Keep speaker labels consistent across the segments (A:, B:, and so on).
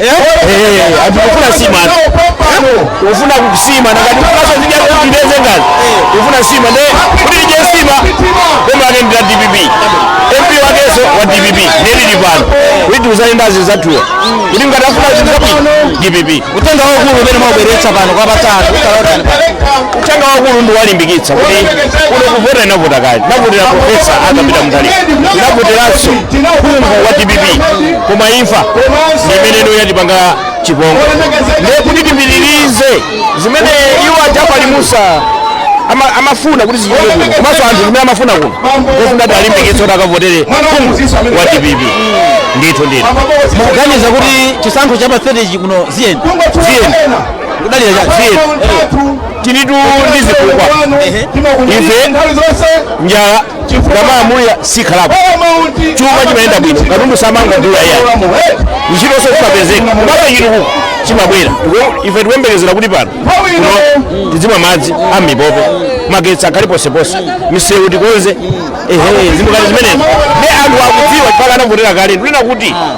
A: Eh, ati kufuna sima ati. Ufuna kusima na kati kufuna zija kujibeze ngani. Ufuna sima ne kuti tidye nsima boma lake ndi la DPP. MP wakenso wa DPP nde tili pano. Kuti uzali ndazi zatuwa. Kuti ngati afuna zikapi DPP. Uthenga waukulu umene mwabweretsa pano kwa patatu utalotani Uthenga waukulu ndi wowalimbikitsa kuti kuno kuvota tinavota kale. Tinavotera profesa Arthur Peter Mutharika. Tinavoteranso phungu wa DPP. koma imfa ndi imene ino yatipanga chipongwe ndiye kuti tipitirize zimene iwo a Jafali Musa ama- amafuna kuti zichitike kuno komanso anthu zimene amafuna kuno kufuna kuti alimbikitse kuti akavotere phungu wa dpp ndithu ndithu mukuganiza kuti chisankho cha pa 30 chi kuno ziyeni ziyeni kudalira cha ziyeni tilitu ndi zifukwa ife njala tikamalamulira sikhalapo chuma chimayenda bwino katundu samangodula ayi ntchitonso zimapezeka mpaka chitukuko chimabwera Ndipo ife tikuyembekezera kuti pano kuno tidzimwa madzi a m'mipope magetsi akhale ponseponse misewu tikonze ehe zinthu ngati zimenezo ndiye anthu akudziwa chifukwa anavotera kale ndinena kuti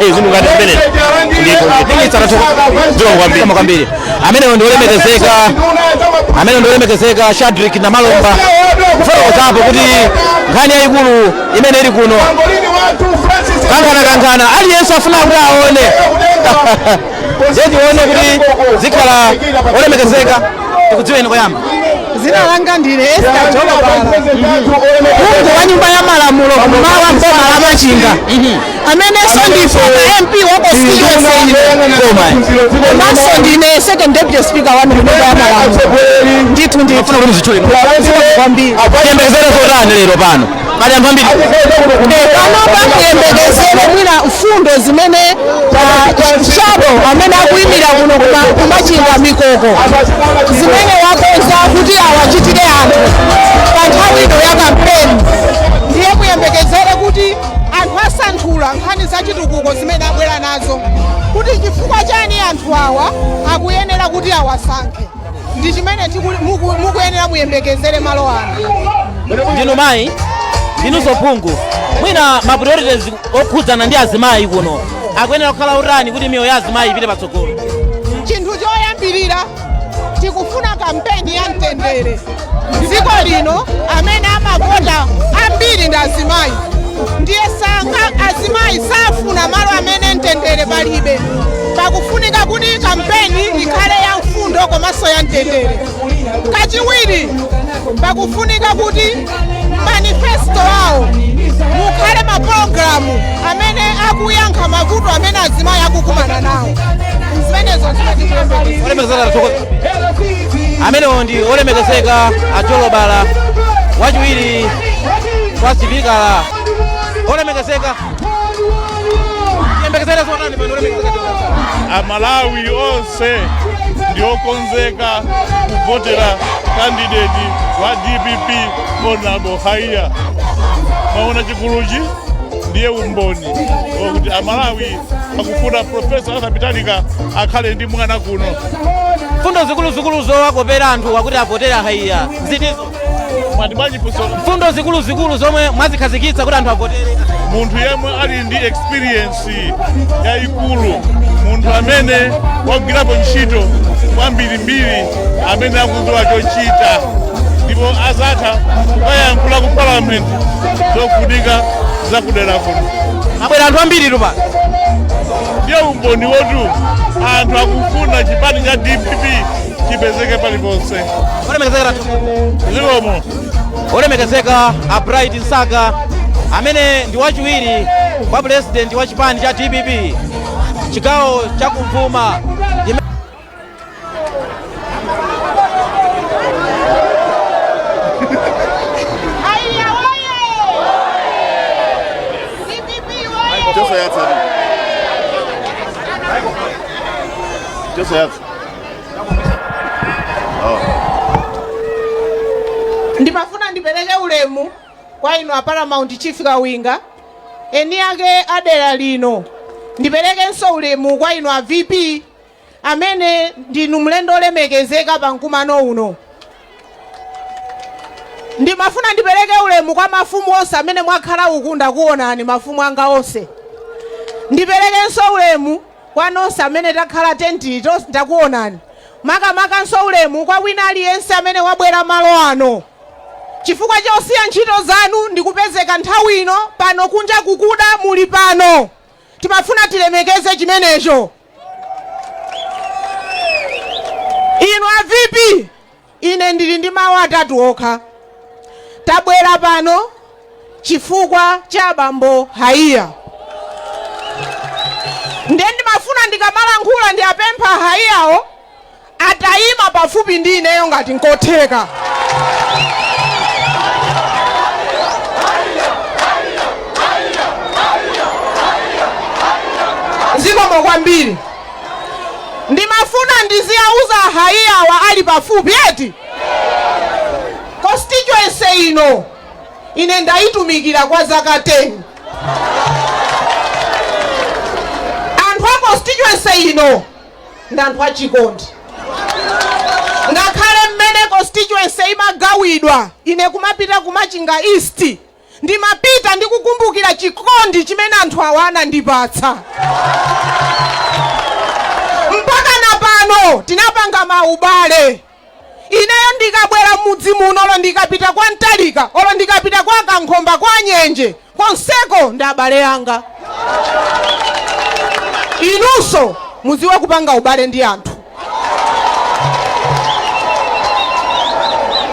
A: Eh, zinthu ngati zimene ndiko ndipitsa zikomo kwambiri kama kwambiri ameneyo ndi olemekezeka ameneyo ndi olemekezeka Shadric Namalomba kufotokozapo kuti nkhani yayikulu imene ili kuno kankhana kankhana aliyense afuna kuti aone tione kuti zikhala olemekezeka tikudziweni koyamba dzina langa
B: ndine Esther Jolobala. Phungu wa nyumba ya malamulo kum'mawa m'boma la Machinga. amenenso ndi former MP wa constituency ino komanso ndine second deputy speaker wa mnyumba ya malamulo ndithu ndithu kwambiri tiyembekezere
A: zotani lero pano pali anthu ambiri panopa
B: muyembekezere mwina mfundo zimene shadow amene akuyimira kuno kuma- kumachinga mikoko zimene wakonza kuti awachitire anthu pa nthawi ino ya kampeni ndiye muyembekezere kuti anthu asanthula nkhani za chitukuko zimene abwera nazo kuti chifukwa chani anthu awa akuyenera kuti awasankhe ndi chimene tiku- muku- mukuyenera muyembekezere malo ano ndinu
A: mayi ndinunso phungu mwina ma priorities okhudzana ndi azimayi kuno akuyenera kukhala otani kuti miyoyo ya azimayi ipite patsogolo chinthu
B: choyambirira tikufuna kampeni ya mtendere dziko lino amene amavota ambiri ndi azimayi ndiye sanga azimayi safuna malo amene mtendere palibe pakufunika kuti kampeni ikhale ya mfundo komanso ya mtendere kachiwiri pakufunika kuti manifesto awo mukhale mapulogalamu amene akuyankha mavuto amene azimayi akukumana nawo zimenezo zimene tikuyembekeza olemekezeka atsogoza
A: amenewo ndi olemekezeka a jolobala wachiwiri kwa sipikala olemekezeka yembekezera zotani pano olemekezeka amalawi
C: onse onse ndiokonzeka kuvotera kandideti wa dpp honorable haiya mwaona chiguluchi ndiye umboni wakuti amalawi akufuna profesa arthur peter mutharika akhale ndi mwana kuno mfundo
A: zikuluzikulu zowakopera anthuwa kuti avotere haiya zitizo mwati bwanji funso mfundo zikuluzikulu zomwe mwazikhazikitsa kuti anthu avotere munthu yemwe
C: ali ndi experience yayikulu munthu amene wagwirapo ntchito kwambirimbiri amene akudziwa chochita ndipo azatha kukayankhula ku parliament zofunika zakudera kuno abwera anthu
A: ambiritu pano ndiye
C: umboni woti anthu akufuna chipani cha dpp chipezeke paliponse olemekezeka
A: ratu
C: zikomo
A: olemekezeka a bright msaka amene ndi wachiwiri kwa pulezidenti wa chipani cha dpp chigawo cha kumvuma Yime- Haiya oye! DPP
B: oye! Just a yatsa. Just a yatsa. Ndimafuna ndipereke ulemu kwa inu a Paramount Chief Kawinga, eni ake a dera lino. Ndiperekenso ulemu kwa inu a VP amene ndinu mlendo olemekezeka pa mkumano uno. Ndimafuna ndipereke ulemu kwa mafumu onse amene mwakhala uku ndakuonani mafumu anga onse. Ndiperekenso ulemu Kwa nonse amene takhala tentiyi tonse ndakuonani. Makamakanso ulemu kwa wina aliyense amene wabwera malo ano chifukwa chosiya ntchito zanu ndikupezeka nthawi ino pano kunja kukuda muli pano timafuna tilemekeze chimenecho. Inu a VP Ine ndiri ndi mawu atatu okha. Tabwera pano chifukwa cha abambo Haiya. Ndiye ndimafuna ndikamalankhula ndiwapemphe a Haiyawo ataima pafupi ndi ineyo ngati nkotheka. Zikomo kwambiri. Ndimafuna ndiziwauza a Haiya awa ali pafupi eti. Constituency ino ine ndaitumikira kwa zaka 10. Anthu a constituency ino ndi anthu achikondi. Ngakhale mmene constituency imagawidwa ine kumapita ku Machinga East Ndimapita ndikukumbukira chikondi chimene anthu awa anandipatsa. Mpaka na pano tinapanga maubale. Ineyo ndikabwera m'mudzi muno olo ndikapita kwa Mtalika, olo ndikapita kwa Kankhomba, kwa Nyenje, konseko ndi abale anga. Inunso mudziwe kupanga ubale ndi anthu.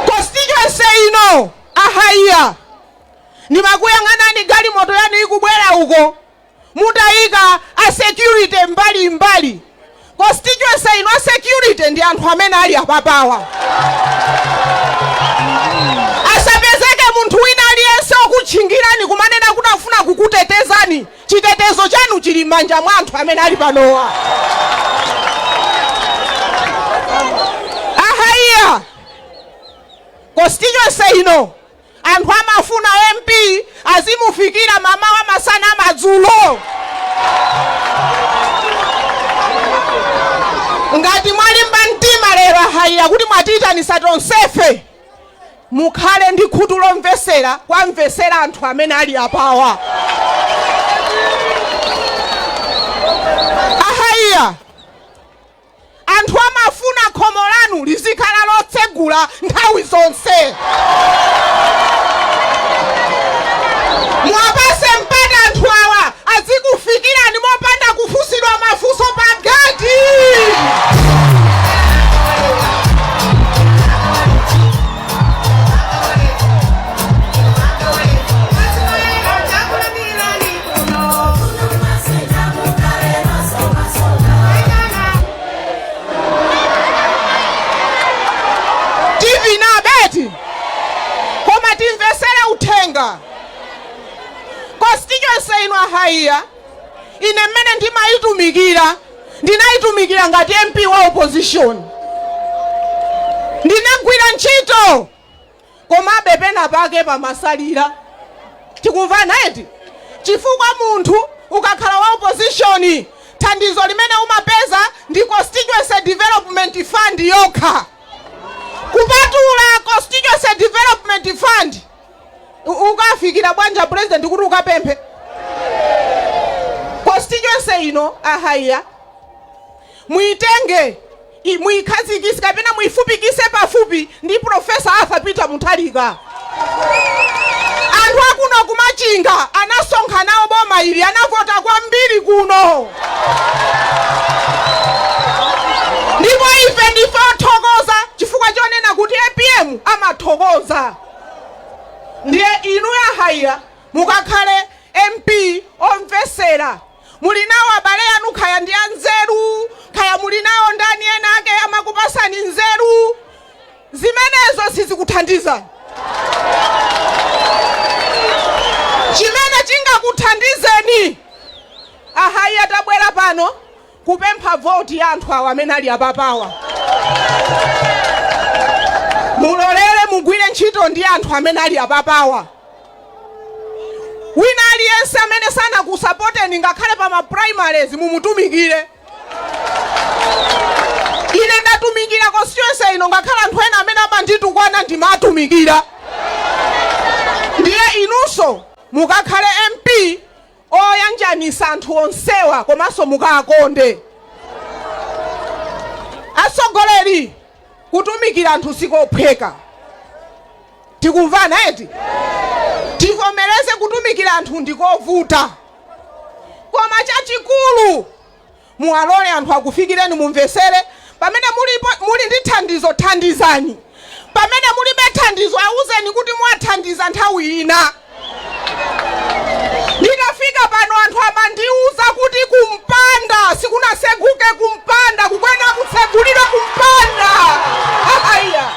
B: Constituency ino A Haiya, ndimakuyang'anani galimoto yanu ikubwera uko, mutayika a security mbali mbali. Constituency ino a security ndi anthu amene ali apapawa. Asapezeke munthu wina aliyense okutchingirani kumanena kuti akufuna kukutetezani. Chitetezo chanu chili m'manja mwa anthu amene ali panowa. A Haiya, Constituency ino anthu amafuna MP azimufikira mamawa, masana, madzulo. Ngati mwalimba mtima lero a Haiya kuti mwatiitanisa tonsefe mukhale ndi khutu lomvesera kwamvesera anthu amene ali apawa. Anthu amafuna khomo lanu lizikhala lotsegula nthawi zonse. Muwapatse mpata anthu awa azikufikirani mopanda kufunsidwa mafunso pa geti. tivina beti koma timvesere uthenga constituency ino a Haiya ine mmene ndimayitumikira ndinayitumikira ngati mp wa opposition ndinagwira ntchito Komabe pena pake pamasalira. Tikumvana eti? Chifukwa munthu ukakhala wa opposition thandizo limene umapeza ndi Constituency Development Fund yokha. Kupatula Constituency Development Fund ukafikira bwanji a President kuti ukapemphe? Constituency ino a Haiya. Muitenge, muikhazikitse, kapena muifupikitse pafupi ndi Professor Arthur Peter Mutharika. Anthu akuno ku Machinga anasonkha nawo boma ili, anavota kwambiri kuno. Ndipo ife ndife othokoza chifukwa chonena kuti APM amathokoza. Ndiye inu a Haiya mukakhale MP omvetsera Muli nawo abale anu kaya ndi anzeru kaya muli nawo ndani ena ake amakupasani nzeru zimenezo sizikuthandizani. Chimene chingakuthandizeni a Haiya tabwera pano kupempha vote ya anthu awa amene ali apapawa. Mulolere mugwire ntchito ndi anthu amene ali apapawa. Wina aliyense amene sanakusapoteni ngakhale pa ma primaries mumutumikire. Ine ndatumikira constituency ino ngakhale anthu ena amene amanditukwana ndimatumikira. Ndiye inunso mukakhale MP oyanjanisa anthu onsewa komanso mukawakonde. Atsogoleri kutumikira anthu sikophweka tikumvana eti? Tivomereze kutumikira anthu ndikovuta koma chachikulu Muwalole anthu akufikireni, mumvetsere. Pamene muli, muli ndi thandizo, thandizani. Pamene mulibe thandizo, auzeni kuti muwathandiza nthawi ina. Nditafika pano anthu amandiuza kuti kumpanda sikunaseguke, kumpanda kukuyenera kutsegulidwa, kumpanda haiya.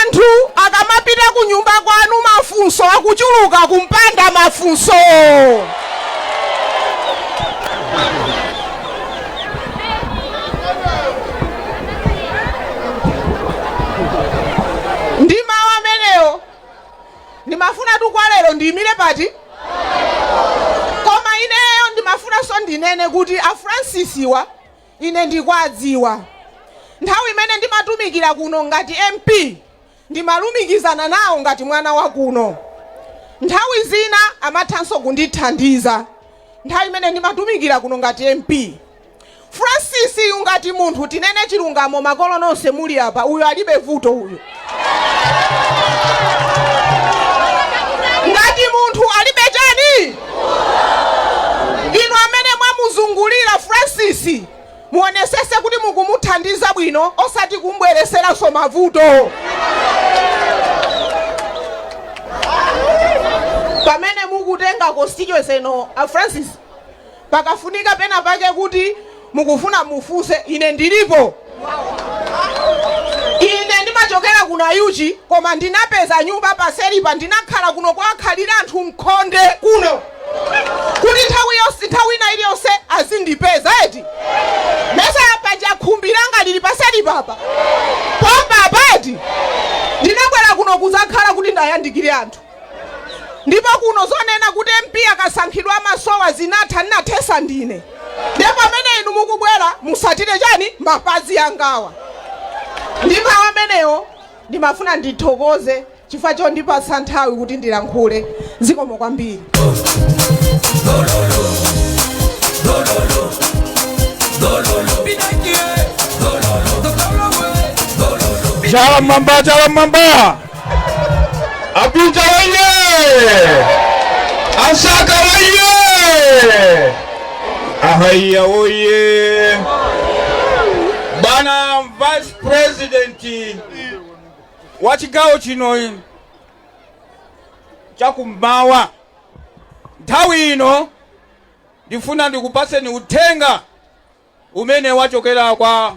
B: Anthu akamapita kunyumba kwanu mafunso akuchuluka kumpanda mafunso! Ndi mawu amenewo ndimafunatu kwa lero ndiyimire pati? Koma ineyo ndimafunanso ndinene kuti a Fransisiwa Ine ndikwadziwa. Nthawi imene ndimatumikira kuno ngati MP, ndimalumikizana nawo ngati mwana wa kuno. Nthawi zina amathanso kundithandiza nthawi imene ndimatumikira kuno ngati MP. Francis yu ngati munthu, tinene chilungamo makolo nonse muli apa, uyo alibe vuto uyo. ngati munthu alibe chani inu amene mwamuzungulira francis muonesese kuti mukumuthandiza bwino osati kumbwereseranso mavuto pamene mukutenga constituency ino a francis Pakafunika pena pake kuti mukufuna mufunse, ine ndilipo. Ine ndimachokera ku Nayuchi koma ndinapeza nyumba paselipa, ndinakhala kuno kuwakhalira anthu mkhonde kuno kuti nthawi yonse, nthawi ina iliyonse azindipeza eti. Mesa paja khumbi langa lili paselipa apa, pompa apa eti. Ndinabwera kuno kudzakhala kuti ndayandikire anthu. ndipo kuno zonena kuti mp akasankhidwa amasowa zinatha ndinathesa ndine ndiye pamene inu mukubwera musatire chani mapazi angawa ndi mawu amenewo ndimafuna ndithokoze chifukwa chondipatsa nthawi kuti ndilankhule zikomo kwambiri
A: chala mmwamba chala mmwamba A Peter oye! A Msaka oye! A Haiya oye! Bwana Vice President wa chigawo chino chakummawa nthawi ino ndifuna ndikupatseni uthenga umene wachokera kwa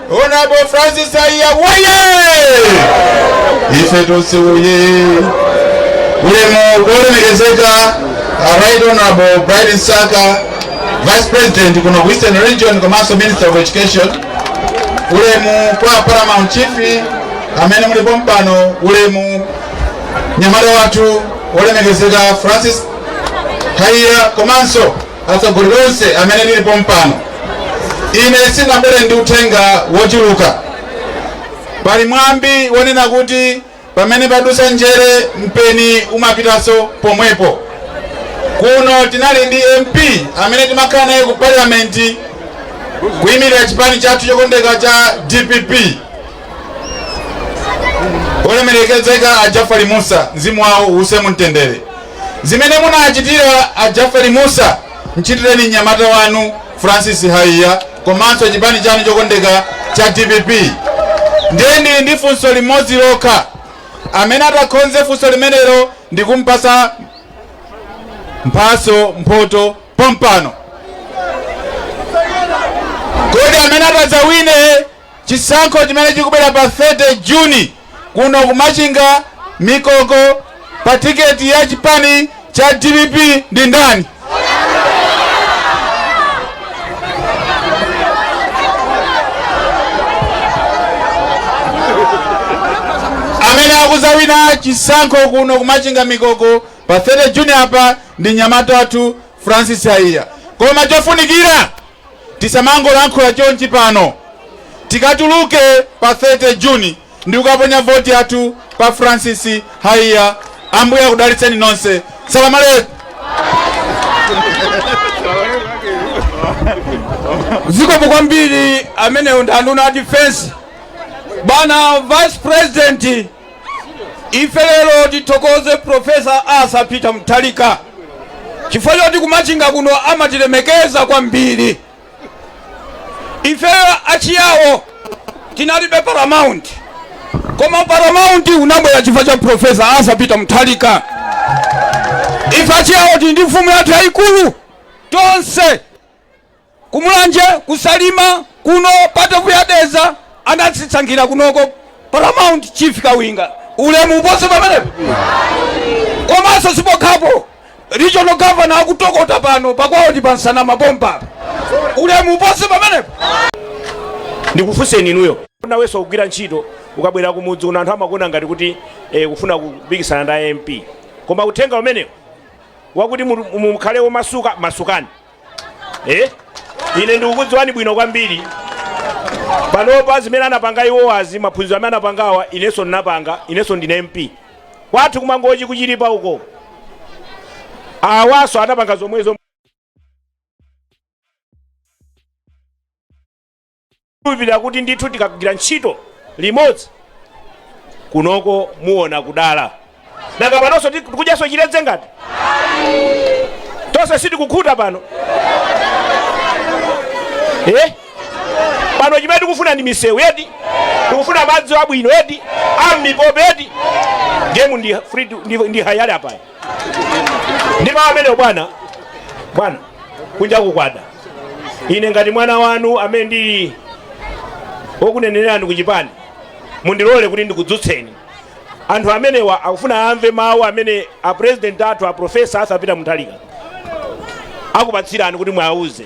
A: Honorable Francis Haiya woye! Ife tonse woye! Ulemu kwa olemekezeka a Right Honorable Bright Msaka, Vice President kuno ku Eastern Region komanso Minister of Education. Ulemu kwa Paramount Chief amene muli pompano ulemu mnyamata wathu wolemekezeka Francis Haiya komanso Atsogoleri onse amene tili pompano, ine sindinabwere ndi uthenga wochuluka.
D: Pali mwambi wonena kuti pamene padutsa njere mpeni umapitanso pomwepo. Kuno tinali ndi MP amene timakhala naye ku Parliament kuyimirira chipani chathu chokondeka cha dpp olemerekezeka a Jafali Musa, mzimu wawo uuse mumtendere. Zimene munachitira a Jafali Mussa mchitireni mnyamata wanu Francis Haiya komanso chipani chanu chokondeka cha dpp. Ndiye ndili ndi funso limodzi lokha, amene atakhonze funso limenelo ndikumupatsa mphatso mphoto pompano. Kodi amene atadzawine Chisankho chimene chikubwera pa 30 June kuno ku Machinga Mikoko pa tiketi ya chipani cha dpp ndi ndani? Amene akudzawina chisankho kuno ku Machinga Mikoko pa 30 June apa ndi mnyamata wathu Francis Haiya. Koma chofunikira Tisamangolankhula chonchi pano. Tikatuluke pa 30 June ndikukaponya voti yathu pa Francis Haiya. Ambuye akudalitseni nonse. Salaam
A: alaikum. zikomo kwambiri ameneyo ndi anduna a defense bwana vice president ife lero tithokoze profesa Arthur Peter Mutharika chifukwa choti kumachinga kuno amatilemekeza kwambiri ifeyo achiyawo tinalibe paramount koma paramount unabwera chifukwa cha profesa Arthur Peter Mutharika ife achiyawo tili ndi mfumu yathu yayikulu tonse Ku Mulanje, ku Salima, kuno pa Ntcheu, ya Dedza anatisankhira kunoko Paramount Chief Kawinga. Ulemu upose pamenepo. Komanso sipokhapo regional governor akutokota pano pakwawo ndi pa Nsanama pompa. Ulemu upose
E: pamenepo. Ndikufunseni inuyo. Nawenso kugwira ntchito ukabwera kumudzi kuno anthu amakuona ngati kuti eh, kufuna kupikisana ndi MP. Koma uthenga umenewo wakuti mu- mu- mukhale omasuka masukani. eh? ine ndikukudziwani bwino kwambiri panopa zimene anapanga iwowazi maphunziro amene anapangawa inenso ndinapanga inenso ndine mp kwathu kumangochi ku Chilipa uko awanso anapanga zomwezo Ndikukhulupirira kuti ndithu tikagwira ntchito limodzi kunoko muona kudala. Nanga panonso ti- tikudyanso chiledze ngati? Tonse sitikukhuta pano. Eh? Pano chimene tikufuna ndi misewu eti. Tikufuna madzi abwino eti. Ammipope eti. Game ndi free to- ndi ndi hayali apa. ndi mawu amenewo bwana bwana kunja kukwada ine ngati mwana wanu amene ndili wokunenerani ku chipani mundilole kuti ndikudzutseni anthu amenewa akufuna amve mawu amene a president athu a profesa arthur peter mutharika akupatsirani kuti mwauze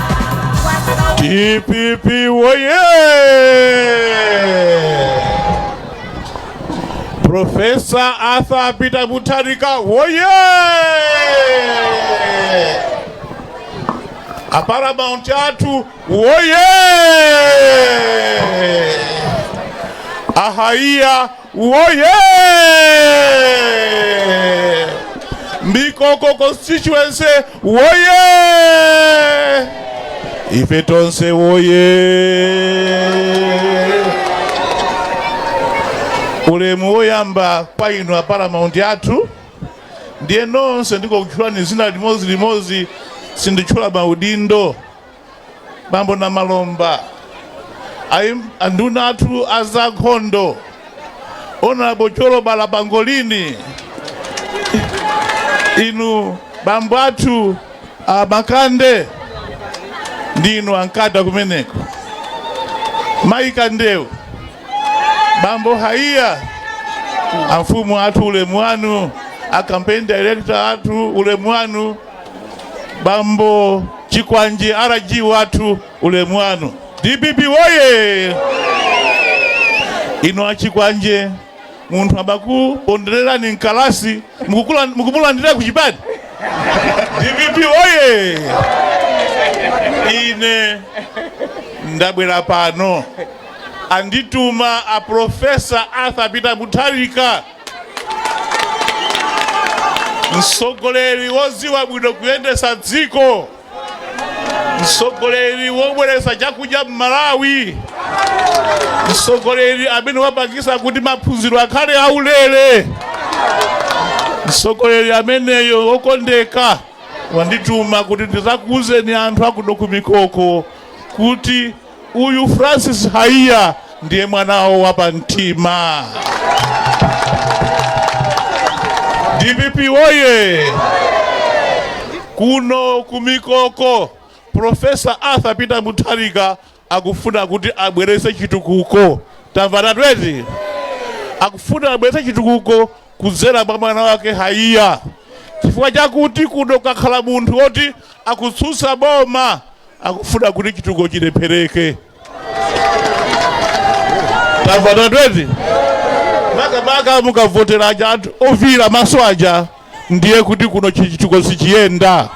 C: DPP woye! Profesa Arthur Peter Mutharika woye! A Paramount athu woye! A Haiya Woye! Mikoko constituency woye! Ife tonse woye! Ulemu woyamba kwa inu a Paramount athu ndiye nonse ndikukutchulani zina limodzi limodzi sinditchula maudindo bambo namalomba ayi- anduna athu azankhondo honorable chiponda malunga inu bambo athu a makande ndi inu a nkata kumeneko mayi kandewu bambo haiya amfumu athu ulemu wanu a campaign director athu ulemu wanu bambo chikwanje rg wathu ulemu wanu dpp woye inu achikwanje munthu amakupondererani mkalasi mukukula- mukumulandira ku chipani dpp woye ine ndabwera pano andituma a profesa arthur peter mutharika mtsogoleri wodziwa bwino kuyendetsa dziko mtsogoleri wobweretsa chakudya m'malawi mtsogoleri amene wapangitsa kuti maphunziro akhale aulere mtsogoleri ameneyo wokondeka wandituma kuti ndizakuuzeni anthu akuno kumikoko kuti Uyu Francis Haiya ndiye mwana wawo wapamtima. DPP woye! Kuno kumikoko Profesa Arthur Peter Mutharika akufuna kuti abwerese chitukuko tamvanatu eti akufuna abwerese chitukuko kudzera mwa mwana wake Haiya chifukwa chakuti kuno kukhala munthu woti akutsutsa boma akufuna kuti chitukuko chilephereke tamvanatu eti makamaka mukavotera aja anthu ofiira maso aja ndiye kuti kuno chitukuko sichiyenda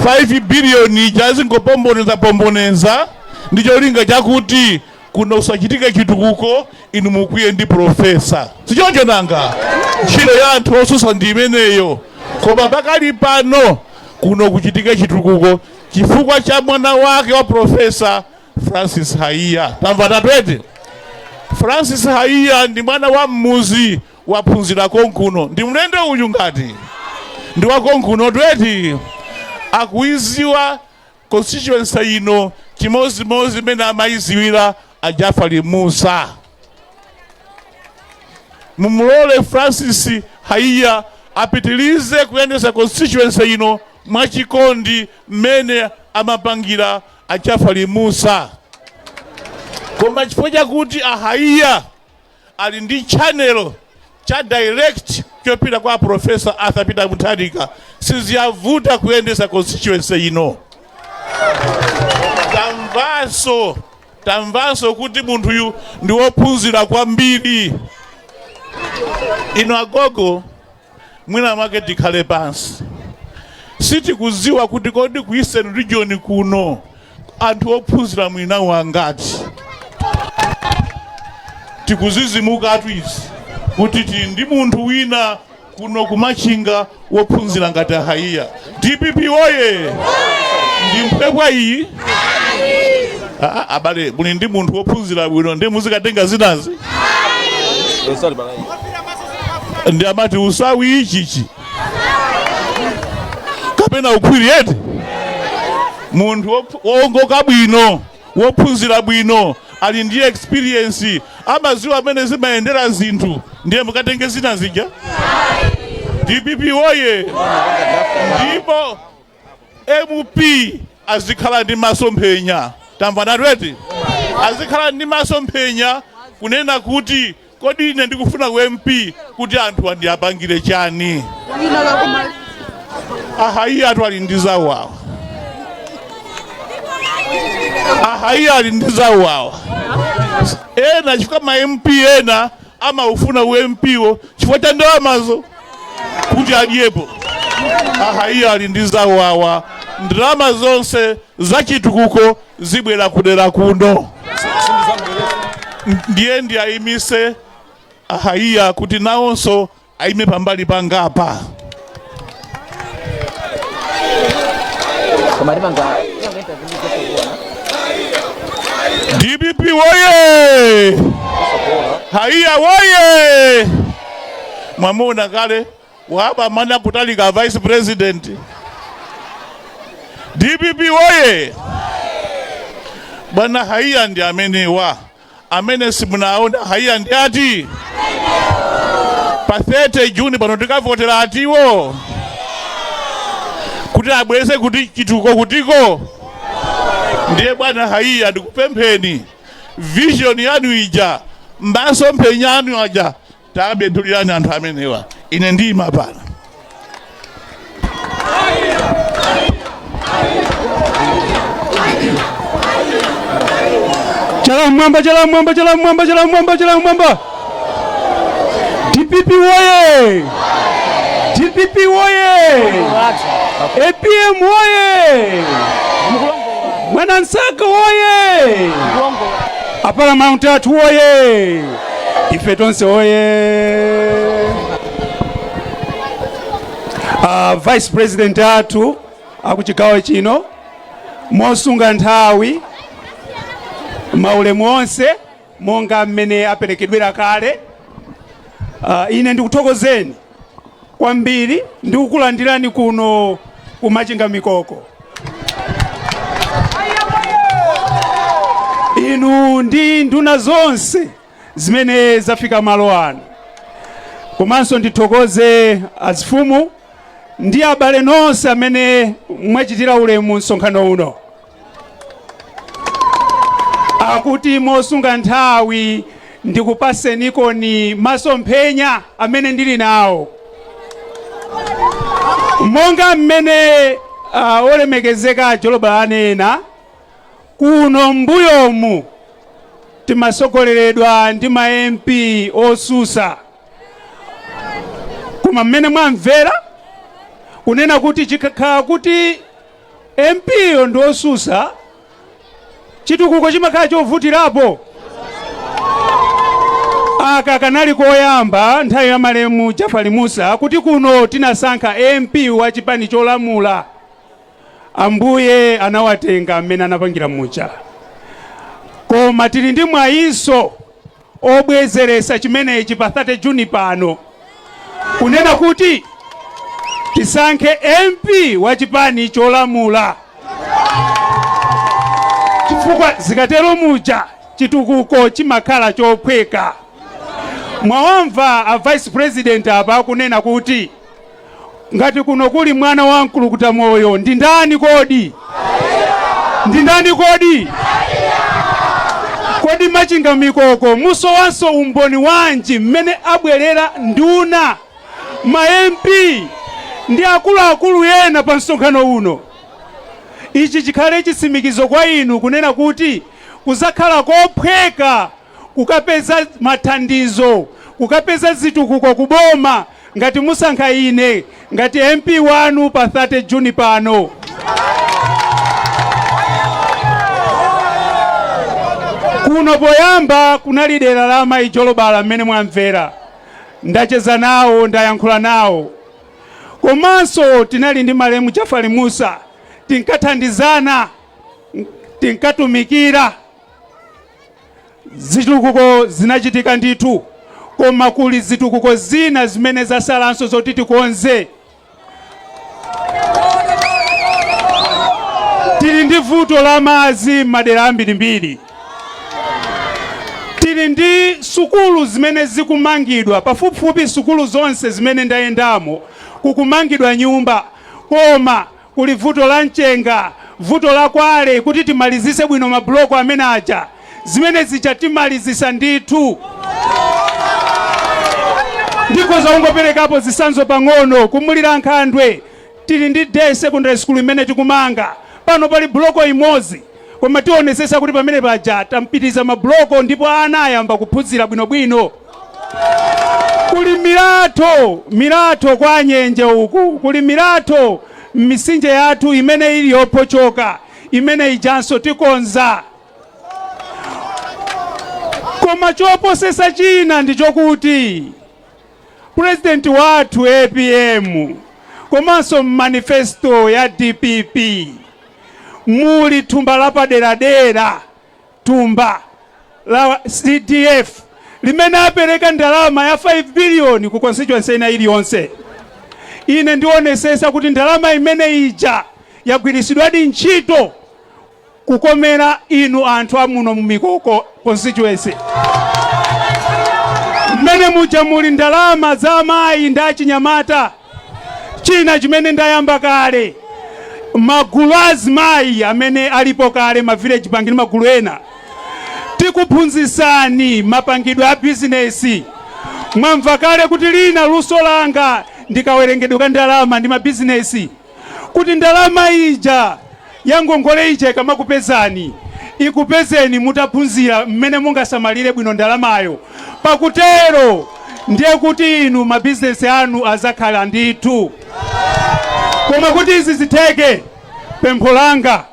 C: 5 biliyoni ija azingopombonezapomboneza ndi cholinga chakuti kuno kusachitike chitukuko inu mukwiye ndi profesa sichoncho nanga ntchito ya anthu osusa ndi imeneyo koma pakali pano kuno kuchitike chitukuko chifukwa cha mwana wake wa profesa francis haiya tamvanatu eti francis haiya ndi mwana wa mmuzi waphunzira konkuno ndi mlendo uyu ngati ndi wakonkunotu eti akuiziwa constituency ino chimozimozi mene amayiziwira a jafali musa mumulole francis haiya apitilize kuyendesa constituency ino mwachikondi mmene amapangira a jafali musa koma chifukwa chakuti a haiya ali ndi channel cha direct chopita kwa a Professor Arthur Peter Mutharika siziyavuta kuyendesa constituency ino tamvanso tamvanso kuti munthuyu ndi wophunzira kwambiri ino agogo mwina mwake tikhale pansi sitikuziwa kuti kodi ku eastern region kuno anthu ophunzira mwinawo angati tikuzizimukatu izi kuti tili ndi munthu wina kuno ku machinga wophunzira ngati a haiya dpp woye ndi mphwepwa iyi Ah, ah, abale muli ndi munthu wophunzira bwino ndi muzikatenga zinazi ndi amati usawi ichichi kapena ukhwiri eti munthu woph- wowongoka bwino wophunzira bwino ali ndi experience amaziwa mmene zimayendera zinthu ndiye mukatenge zina zija dpp woye ndipo mp azikhala ndi masomphenya tamvanatu eti azikhala ndi masomphenya kunena kuti Kodi ine ndikufuna u MP kuti anthuwa ndiwapangire chani? A Haiyatu ali ndi zawo awa. A Haiya ali ndi zawo awa. Ena chifukwa ma MP ena amaufuna u MP wo chifukwa cha ndalamazo kuti adyepo. A Haiya ali ndi zawo awa. Ndalama zonse za chitukuko zibwera kudera kuno ndiye ndiayimise a Haiya kuti nawonso ayime pambali pangapa dpp woye haiya woye mwamuna kale Wapamwamba kutalika vice president. DPP woye! Bwana haiya ndi amenewa amene simunaona haiya ndi ati pa 30 Juni pano tikavotera atiwo kuti abwese kuti chitukuko kutiko ndiye bwana haiya ndikupempheni vision yanu ija masomphenya anu aja Takabedulirani anthu amenewa, ine ndiyima
F: pano. Chala mwamba, chala mwamba, chala mwamba, chala mwamba, chala mwamba. DPP woye! DPP woye! APM woye! Mwanamsaka woye! A Paramount Athu woye! ife tonse woye uh, vice president athu akuchigawo chino mosunga nthawi maulemu onse monga mmene aperekedwera kale uh, ine ndikuthokozeni kwambiri ndikukulandirani kuno ku Machinga Mikoko. Inu ndi nduna zonse zimene zafika malo ano, komanso ndithokoze azifumu ndi abale nonse amene mwachitira ulemu msonkhano uno. Akuti mosunga nthawi ndikupasenikoni masomphenya amene ndili nawo monga mmene uh, olemekezeka a Jolobala anena kuno mbuyomu timasogoleredwa ndi ma mp osusa koma mmene mwamvera kunena kuti chikakhala kuti mp yo ndi osusa chitukuko chimakhala chovutirapo aka kanali koyamba nthawi ya malemu jafali musa kuti kuno tinasankha mp wa chipani cholamula ambuye anawatenga mmene anapangira muja koma tili ndi mwayinso obwezeretsa chimenechi pa 30 June pano kunena kuti tisankhe MP wa chipani cholamula chifukwa zikatero muja chitukuko chimakhala chophweka. Mwawamva a vice president apa akunena kuti Ngati kuno kuli mwana wa mkulukuta moyo ndi ndani kodi? Ndi ndani kodi? Kodi Machinga Mikoko musowanso umboni wanji mmene abwerera nduna ma MP ndi akuluakulu ena pa msonkhano uno? Ichi chikhale chitsimikizo kwa inu kunena kuti kuzakhala kophweka kukapeza mathandizo, kukapeza zitukuko ku boma ngati musankha ine ngati MP wanu pa 30 June pano. Kuno poyamba kunali dera la Mayi Jolobala mmene mwamvera, ndacheza nawo ndayankhula nawo, komanso tinali ndi malemu Jafali Musa tinkathandizana tinkatumikira Zitukuko zinachitika ndithu koma kuli zitukuko zina zimene zasalanso zoti tikonze. Tili ndi vuto la madzi m'madera ambirimbiri. Tili ndi sukulu zimene zikumangidwa pafupifupi sukulu zonse zimene ndayendamo kukumangidwa nyumba koma Kuli vuto la mchenga, vuto la kware kuti timalizise bwino ma block amene aja. Zimene zija timalizisa ndithu. Ndikhoza kungopelekapo zisanzo pang'ono ku Mulilankhandwe tili ndi day secondary school imene tikumanga pano pali block imozi. Koma tionetsetsa kuti pamene paja tampitiriza ma block ndipo ana ayamba kuphunzira bwinobwino. Kuli milatho milatho kwa Nyenje uku, kuli milatho m'misinje yathu imene ili yophotchoka, imene ijanso tikonza. Koma choposesa china ndi chokuti President wathu APM komanso m'manifesto ya DPP muli thumba lapaderadera, thumba la CDF limene apereka ndalama ya 5 billion ku constituency ina iliyonse. Ine ndionesesa kuti ndalama imene ija yagwirisidwadi ntchito kukomera inu anthu amuno mu Mikoko constituency. Mmene muja muli ndalama za amayi ndi achinyamata China chimene ndayamba kale, magulu a azimayi amene alipo kale, ma village bank ndi magulu ena, tikuphunzitsani mapangidwe a bizinesi. Mwamva kale kuti lina luso langa ndi kawerengedwe ka ndalama ndi mabizinesi, kuti ndalama ija ya ngongole ija ikamakupezani, ikupezeni mutaphunzira mmene mungasamalire bwino ndalamayo. Pakutero ndiye kuti inu mabizinesi anu azakhala ndithu. Koma kuti izi zitheke, pempho langa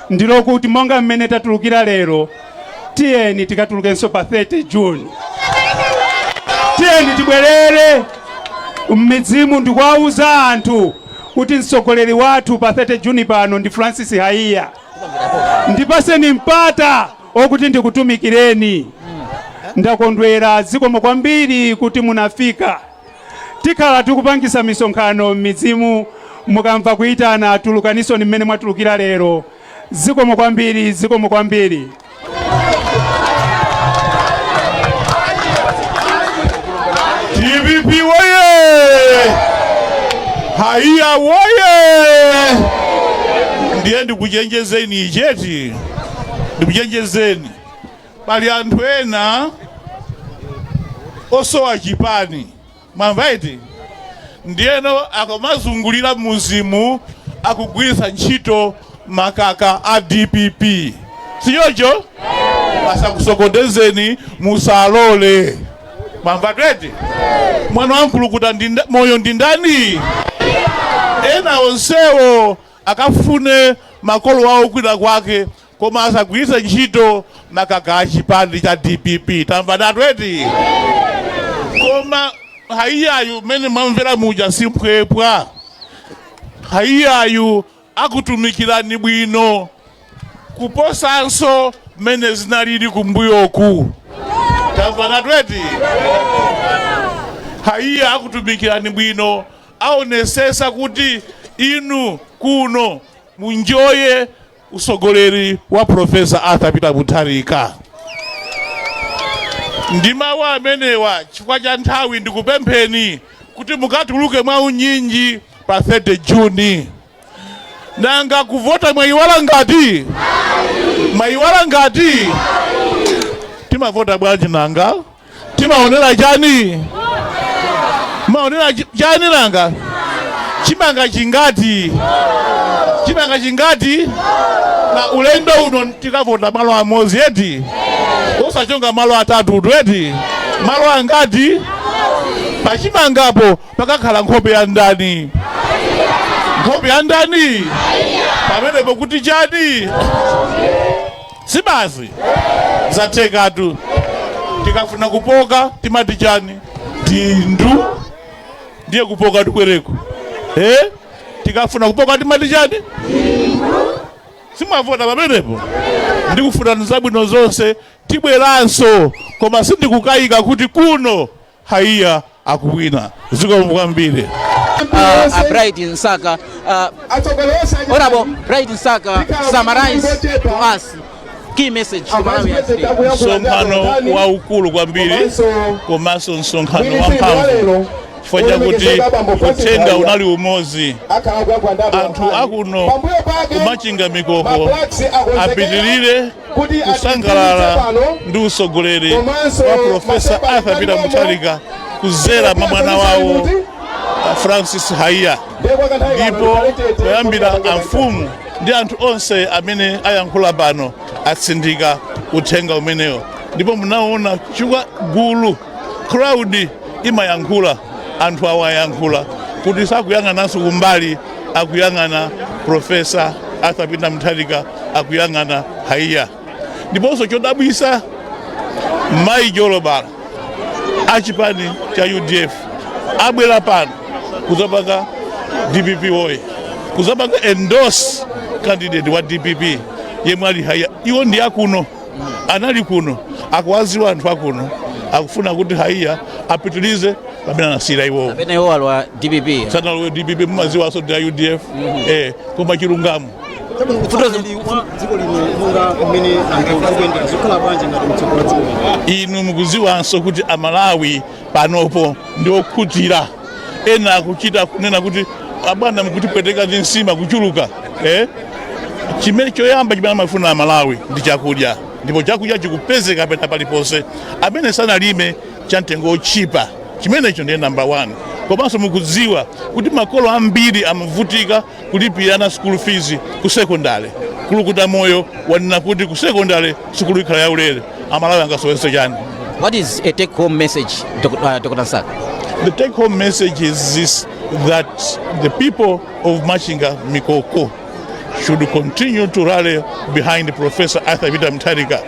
F: ndilokuti monga mmene tatulukira lero, tiyeni tikatulukenso pa 30 June. Tiyeni tibwerere mmidzimu ndikuwauza anthu kuti mtsogoleri wathu pa 30 June pano ndi Francis Haiya. Ndipaseni mpata okuti ndikutumikireni. Ndakondwera zikomo kwambiri kuti munafika. Tikhala tikupangisa misonkhano m'midzimu mukamva kuitana tulukaninsoni mmene mwatulukira lero. Zikomo kwambiri, zikomo
C: kwambiri. DPP woye! Haiya woye! Ndiye ndikuchenjezeni ichi eti, ndikuchenjezeni pali anthu ena osowa chipani mwamva eti ndiyeno akamazungulira m'midzimu akugwiritsa ntchito makaka a dpp si choncho asakusokonezeni musalole mwamvatu eti mwana wa Mkulukutamoyo ndi ndani ena onsewo akafune makolo wawo kwina kwake Koma asagwiritse ntchito makaka a chipani cha dpp tamvanatu eti koma haiyayu mmene mwamvera muja si mphwepwa haiyayu akutumikirani bwino kuposanso mmene zinalili kumbuyoku tamvanatu eti haiya akutumikirani bwino aonesesa kuti inu kuno munjoye Utsogoleri wa Professor Arthur Peter Mutharika. Ndi mawu amenewa chifukwa cha nthawi ndikupempheni kuti mukatuluke mwa unyinji pa 30 June. Nanga kuvota mwayiwala ngati? Mwayiwala ngati? Timavota bwanji nanga? timaonera chani maonera chi- chani nanga chimanga chingati chimanga chingati a ulendo uno tikavota malo amozi eti usachonge malo atatu eti malo angati pachimangapo pakakhala nkhope ya ndani nkhope ya ndani pamenepo kuti chani si basi zathekatu tikafuna kupoka timati chani dindu ndiye kupoka tubwereku eh? tikafuna kupoka timati chani simwavota pamenepo ndikufunirani zabwino zonse tibweranso koma sindikukayika kuti kuno Haiya akuwina zikomo kwambiri. uh,
A: a Bright Msaka. Uh, Honorable Bright Msaka, summarize to us key message to Malawians today. msonkhano
C: waukulu kwambiri komanso msonkhano wamphamvu chifukwa chakuti uthenga unali umodzi anthu akuno ku Machinga Mikoko apitirire kusangalala ndi utsogoleri wa Professor Arthur Peter Mutharika kuzera mwa mwana wawo Francis Haiya ndipo kuyambira amfumu ndi anthu onse amene ayankhula pano atsindika uthenga umenewo ndipo munaona chifukwa gulu crowd imayankhula anthu awo ayankhula kuti sakuyang'ananso kumbali akuyang'ana Professor Arthur Peter Mutharika akuyang'ana haiya ndiponso chodabwisa mayi jolobala achipani cha udf abwera pano kuzapanga dpp woye kuzapanga endorse candidate wa dpp yemwe ali haiya iwo ndi akuno anali kuno akuwaziwa anthu akuno akufuna kuti haiya apitilize pamene anasiyira iwowo kapena iwo alowa dpp
A: sanalowe dpp
C: mumaziwaso ndi a udf eh, koma chilungamo dziko lino monga mmene anthu akuyendera zikhala bwanji ngati mutsogola dziko lino inu mukuziwanso kuti amalawi panopo ndi okhutira ena akuchita kunena kuti abwana mukutipweteka ndi nsima kuchuluka eh? chimene choyamba chimene amafuna amalawi ndi chakudya ndipo chakudya chikupezeka pena paliponse amene sanalime cha mtengo wotchipa chimenecho ndiye namba 1 komanso mukudziwa kuti makolo ambiri amavutika kulipira ana school fees ku secondary Kulukutamoyo wanena kuti ku secondary sukulu ikhala yaulere amalawi angasowenso chani What is a take
A: home message, Dr. Uh, Dr. Msaka? The take
C: home message is this that the people of Machinga Mikoko should continue to rally behind Professor Arthur Peter Mutharika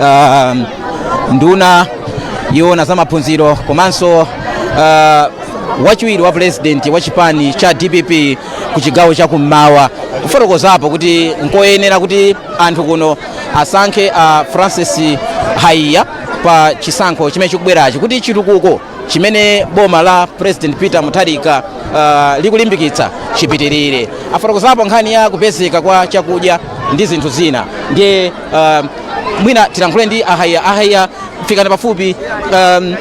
A: um, nduna yowona za maphunziro komanso uh, wachiwiri wa pulezidenti wa chipani cha dpp ku chigawo cha kummawa kufotokozapo kuti nkoyenera kuti anthu kuno asankhe a uh, francis haiya pa chisankho chimene chikubwerachi kuti chitukuko chimene boma la president peter mutharika uh, likulimbikitsa chipitirire afotokozapo nkhani ya kupezeka kwa chakudya ndi zinthu zina ndiye uh, mwina tilankhule ndi a haiya a haiya fikani pafupi um,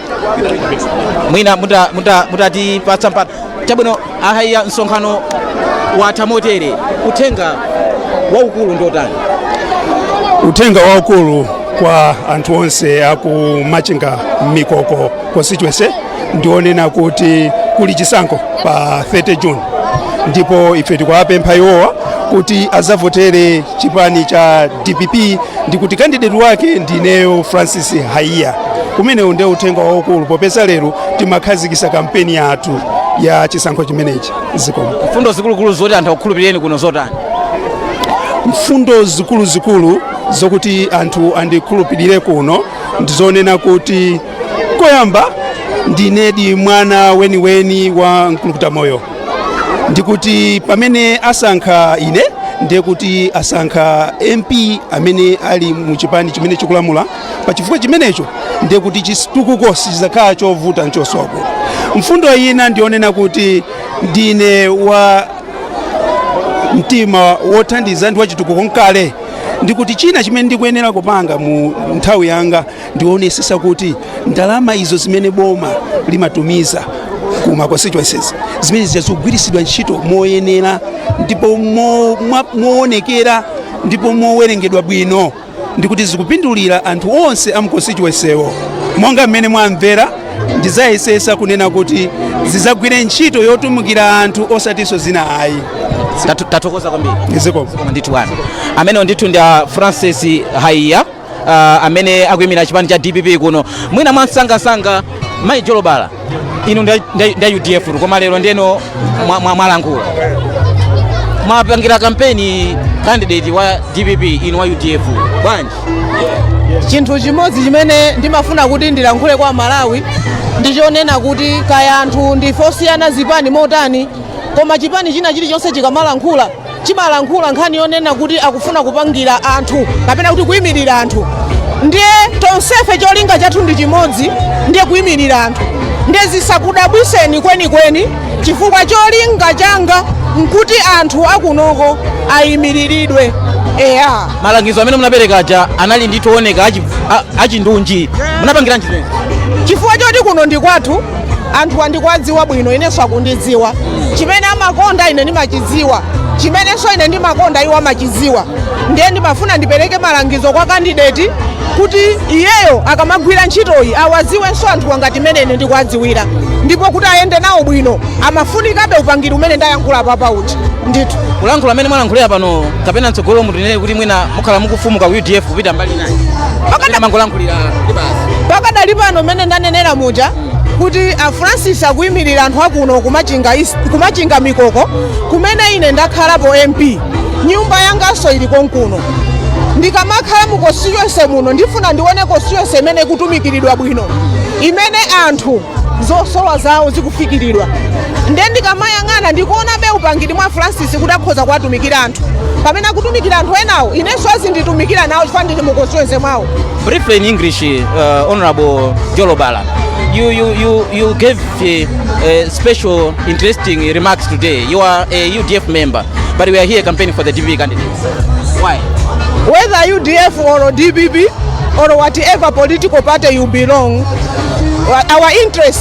A: mwina mutatipatsa muta, muta mpata chabwino a haiya msonkhano watha motere uthenga waukulu ndi otani
F: uthenga waukulu kwa anthu onse aku machinga mikoko constituency ndiwonena kuti kuli chisankho pa 30 june ndipo ife tikuwapempha iwowa kuti azavotere chipani cha dpp ndikuti kandideti wake ndineyo francis haiya umenewu ndiye uthenga waukulu popeza lero timakhazikisa kampeni yathu ya chisankho chimenechi zikomo mfundo zikuluzikulu
A: zoti anthu akukhulupirireni kuno nzotani
F: mfundo zikuluzikulu zokuti anthu andikhulupirire kuno ndizonena kuti koyamba ndinedi mwana weniweni wa mkulukutamoyo ndikuti pamene asankha ine ndiye kuti asankha mp amene ali mu chipani chimene chikulamula pa chifukwa chimenecho ndiye kuti chitukuko sichizakhala chovuta nchosowa mfundo ina ndiyonena kuti ndine wa mtima wothandiza ndi wachitukuko nkale ndikuti china chimene ndikuyenera kupanga mu nthawi yanga ndiwonesesa kuti ndalama izo zimene boma limatumiza kuma constituencies zimene zikugwiritsidwa ntchito moyenera ndipo mo- mwa- moonekera ndipo mowerengedwa bwino ndikuti zikupindulira anthu onse a mu constituency wo monga mmene mwamvera ndizayesesa kunena kuti zizagwire ntchito yotumikira anthu osatinso zina ayi Tathu- tathokoza
A: kwambiri zikomo ndithu bwana amenewo ndithu ndi a francis haiya uh, amene akuimira chipani cha dpp kuno mwina mwamsangamsanga mayi jolobala inu nda, nda, nda udf tu, koma lero ndeno mwa- mwa- mwalankhula mwapangira kampeni candidate wa dpp inu wa udf
B: bwanji chinthu chimodzi chimene ndimafuna kuti ndilankhule kwa amalawi ndichonena kuti kaya anthu ndife osiyana zipani motani koma chipani china chilichonse chikamalankhula chimalankhula nkhani yonena kuti akufuna kupangira anthu kapena kuti kuyimirira anthu ndiye tonsefe cholinga chathu ndi chimodzi ndiye kuyimirira anthu ndiye zisakudabwiseni kwenikweni chifukwa cholinga changa nkuti anthu akunoko ayimiriridwe eya malangizo amene
A: munapereka aja anali ndithu ooneka achi- a- achindunji munapangiranji zimenezi chifukwa
B: choti kuno
A: ndi kwathu
B: anthuwa ndikuwadziwa bwino inenso akundidziwa chimene amakonda ine ndimachidziwa chimenenso ine ndimakonda iwo amachidziwa ndiye ndimafuna ndipereke malangizo kwa kandideti kuti iyeyo akamagwira ntchitoyi awadziwenso anthuwa ngati mmene ine ndikuwadziwira ndipo kuti ayende nawo bwino amafunikabe upangiri umene ndayankhula apawu ndithu kulankhula mmene mwalankhulira
A: pano kapena mtsogolo mutinene kuti mwina mukhala mukufumuka ku udf kupita mbali
B: pakadali pano mmene ndanenera muja kuti a francis akuyimirira anthu akuno kumachinga mikoko kumene ine ndakhalapo mp nyumba yanganso ili konkuno ndikamakhala mu constituency muno ndifuna ndione constituency imene ikutumikiridwa bwino imene anthu zosowa zawo zikufikiridwa nde ndikamayang'ana ndikuonabe upangiri mwa francis kuti akhoza kuwatumikira anthu pamene akutumikira anthu enawo inenso azinditumikira nawo chifukwa ndili mu constituency mwawo Briefly in English,
A: uh, Honorable Jolobala, you, you, you, you gave uh, uh, special interesting remarks today. You are a UDF member, but we are here campaigning for the DPP candidates. Why? whether
B: UDF or DPP or whatever political party you belong, our interest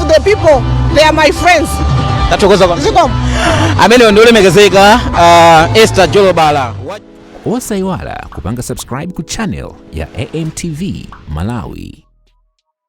B: to the people, they are my friends. tathokoza kwambiri
A: Zikomo. ameneyo ndi olemekezeka uh, esther jolobala
G: osaiwala kupanga subscribe ku channel ya amtv malawi